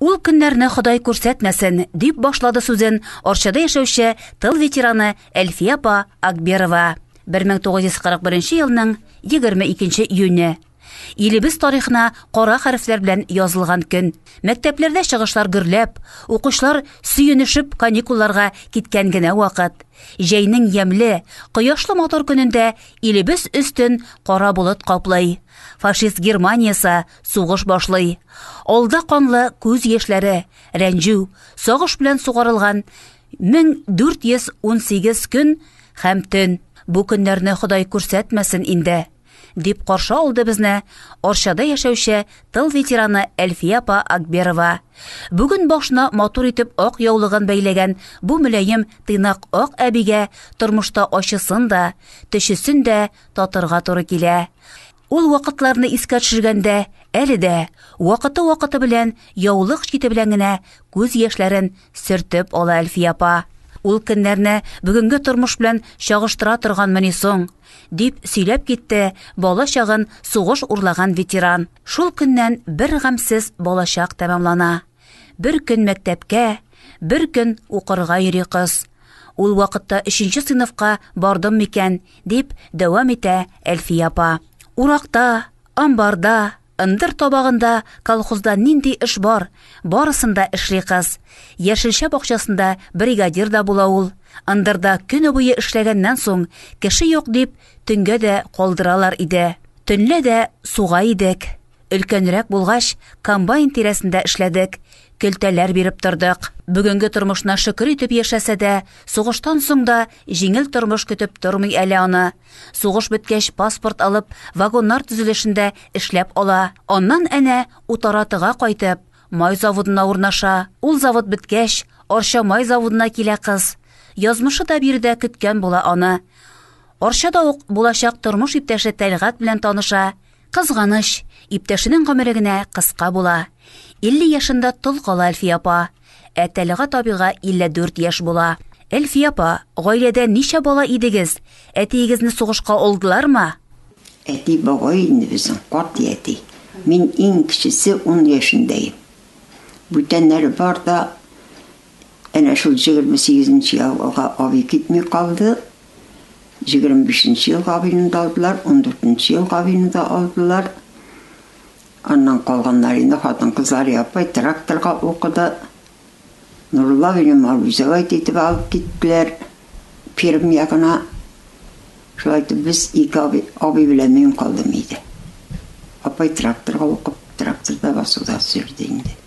Ул көннәрне Ходай күрсәтмәсен, дип башлады сүзен Арчада яшәүче тыл ветераны Әлфия апа Акберова. 1941 елның 22 июне. Илебез тарихына кара хәрефләр белән язылган көн. Мәктәпләрдә чыгышлар гөрләп, укучылар сөенешеп каникулларга киткән генә вакыт. Җәйнең ямьле, кояшлы мотор көнендә илебез өстен кара болыт каплый. Фашист Германиясе Сугыш башлый. Алда канлы күз яшьләре, рәнҗү, сагыш белән сугарылган 1418 көн һәм төн. Бу көннәрне Ходай күрсәтмәсен инде, дип каршы алды безне Арчада яшәүче тыл ветераны Әлфия апа Акберова. Бүген башына матур итеп ак яулыгын бәйләгән бу мөләем тыйнак ак әбигә тормышта ачысын да, төчесен дә татырга туры килә. Ул вакытларны искә төшергәндә, әле дә вакыты-вакыты белән яулык чите белән генә күз яшьләрен сөртеп ала Әлфия апа. Ул көннәрне бүгенге тормыш белән чагыштыра торганмыни соң? дип сөйләп китте бала чагын сугыш урлаган ветеран. Шул көннән бер гамьсез балачак тәмамлана. Бер көн мәктәпкә, бер көн укырга йөри кыз. Ул вакытта өченче сыйныфка бардым микән, дип дәвам итә Әлфия апа. Уракта, амбарда, ындыр табагында, колхозда нинди эш бар, барысында эшли кыз. Яшелчә бакчасында бригадир да була ул. Ындырда көне буе эшләгәннән соң, кеше юк дип, төнгә дә калдыралар иде. Төнлә дә суга идек. Өлкәнрәк булгач, комбайн тирәсендә эшләдек, көлтәләр биреп тордык. Бүгенге тормышына шөкер итеп яшәсә дә, сугыштан соң да җиңел тормыш көтеп тормый әле аны. Сугыш беткәч, паспорт алып, вагоннар төзелешендә эшләп ала. Аннан әнә Утаратыга кайтып, май заводына урнаша. Ул завод беткәч, Арча май заводына килә кыз. Язмышы да биредә көткән була аны. Арчада ук булачак тормыш иптәше Тәлгать белән таныша. Кызганыч, иптәшенең гомере генә кыска була. 50 яшендә тол кала Әлфия апа. Ә Тәлгат абыйга 54 яшь була. Әлфия апа, гаиләдә ничә бала идегез? Әтиегезне сугышка алдылармы? Әти бабай инде безнең катгый әти. Мин иң кечесе, ун яшендә идем. Бүтәннәре бар да, Әнә шул җегерме сигезенче елга абый китми калды. Җегерме бишенче елга абыйны да алдылар, ундүртенче елга абыйны да алдылар. Аннан калганнар инде хатын-кызлары апай тракторга укыды. Нурулла абыйны Малүзәвәй китеп алып киттеләр, Пермь ягына. Шулай итеп без ике абый, абый белән мин калдым өйдә. Апай тракторга укып, тракторда басуда сөрде инде.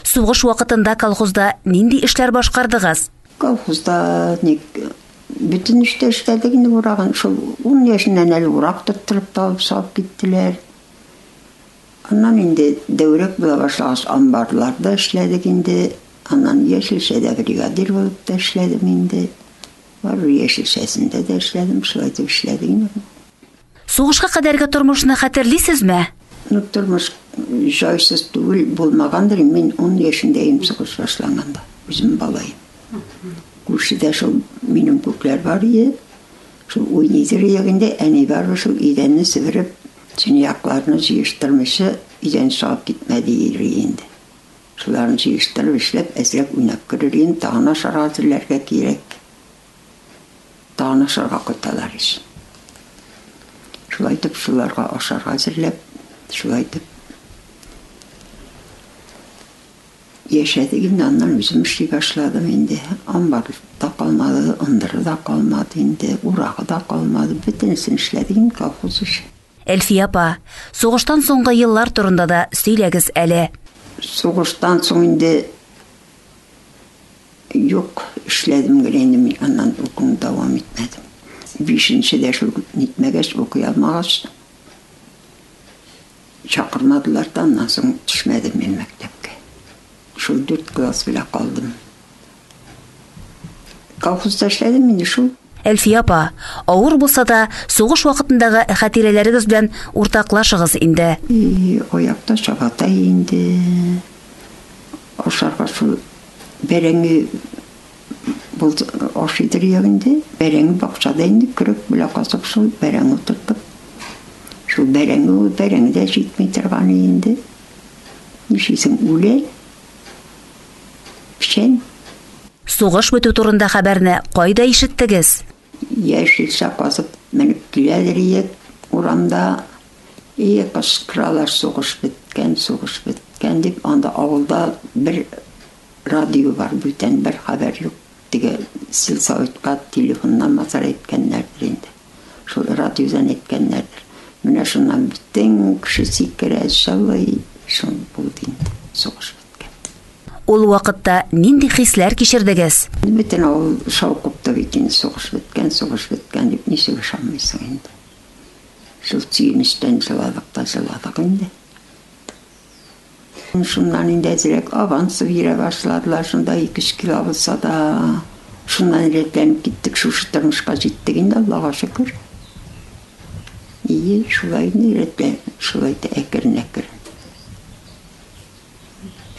Сугыш вакытында колхозда нинди эшләр башкардыгыз? Колхозда ник бөтен эштә эшләдек инде урагын. Шул 10 яшеннән әле урак тоттырып табып салып киттеләр. Аннан инде дәүрәк була башлагач амбарларда эшләдек инде. Аннан яшелчәдә бригадир булып та эшләдем инде. Бар яшелчәсендә дә эшләдем, шулай итеп эшләдек инде. Сугышка кадәрге тормышны хәтерлисезме? Ну, тормыш җайсыз түгел булмагандыр. Мин 10 яшендәем сугыш башланганда, үзем балаем. Күршедә шул минем күкләр бар иде. Шул уйныйдыр ягында әни бар шул идәнне севереп, чынаякларны җыештырмыйча идән салып китмәде иде инде. Шуларны җыештырып эшләп, әзрәк уйнап керер идем, тагын ашарга әзерләргә кирәк. Тагын ашарга кайталар ич. Шулай итеп, шуларга ашарга әзерләп, шулай итеп яшәдек инде. Аннан үзем эшли башладым инде. Амбар да калмады, ындыры да калмады инде, урагы да калмады. Бөтенесен эшләдек инде колхоз өчен. Әлфия апа, сугыштан соңгы еллар турында да сөйләгез әле. Сугыштан соң инде Юк, эшләдем генә инде мин, аннан укуны дәвам итмәдем. Бишенче дә шул нитмәгәч, укый алмагач, чакырмадылар да, аннан соң төшмәдем мин мәктәпкә. Шул дүрт класс белән калдым. Колхозда эшләдем инде шул. Әлфия апа, авыр булса да, сугыш вакытындагы хәтирәләрегез белән уртаклашыгыз инде. И, аякта чабата инде. Ашарга шул Бәрәңге булды, ашыйдыр ягы инде. Бәрәңге бакчада инде көрек белән казып шул бәрәңге утырттык. Шул бәрәңге ул бәрәңге дә җитми торган инде. Нишлисең, үлә. Печән. Сугыш бетү турында хәбәрне кайда ишеттегез? Яшелчә казып менеп киләлер идек урамда. И, кычкыралар, сугыш беткән, сугыш беткән, дип. Анда авылда бер радио бар, бүтән бер хәбәр юк. Теге сельсоветка телефоннан мазар әйткәннәрдер инде. Шул радиодан әйткәннәрдер. Менә шуннан бөтен кеше сикерә, җылый. Шул булды инде, сугыш беткән. Ул вакытта нинди хисләр кичердегез? Бөтен авыл шау купты бит инде, сугыш беткән, сугыш беткән дип, ничек ышанмыйсың инде. Шул сөенечтән җыладык та җыладык инде. Шуннан инде әзрәк авансып йөрә башладылар, шунда ике-өч кило булса да, шуннан рәтләнеп киттек, шушы тормышка җиттек инде, Аллага шөкер. И, шулай инде, рәтләнеп, шулай да әкрен-әкрен.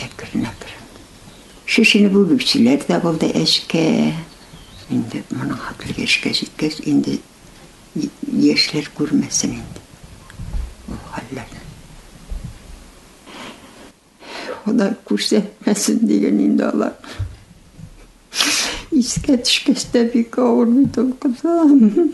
Әкрен-әкрен. Шешенеп үбекчеләр дә булды әчкә. Инде моның хәтле яшькә җиткәч, инде яшьләр күрмәсен инде ул хәлләрне. Ходай күрсәтмәсен, диген инде алар. Искә төшкәч тә бик авыр бит ул кызым.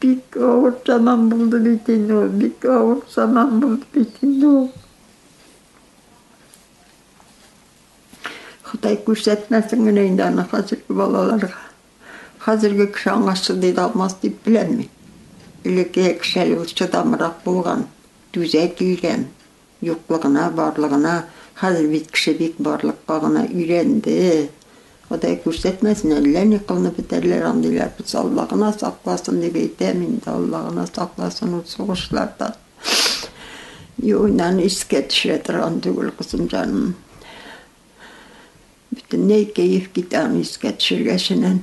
Бик авыр заман булды бит инде ул, бик авыр заман булды бит инде ул. Ходай күрсәтмәсен генә инде аны хәзерге балаларга. Хәзерге кеше аңа чыдый да алмас дип беләм мин. Элекке кешеләр чыдамрак булган, түзә килгән. Юклыгына, барлыгына, хәзер бит кеше бик барлыкка гына өйрәнде. Ходай күрсәтмәсен, әллә ни кылынып бетәрләр андыйлар булса, Алла гына сакласын дип әйтәм инде, Алла гына сакласын ул сугышлардан. Юыннан искә төшерә торган түгел, кызым җаным. Бөтенләй кәеф китә аны искә төшергәченнән.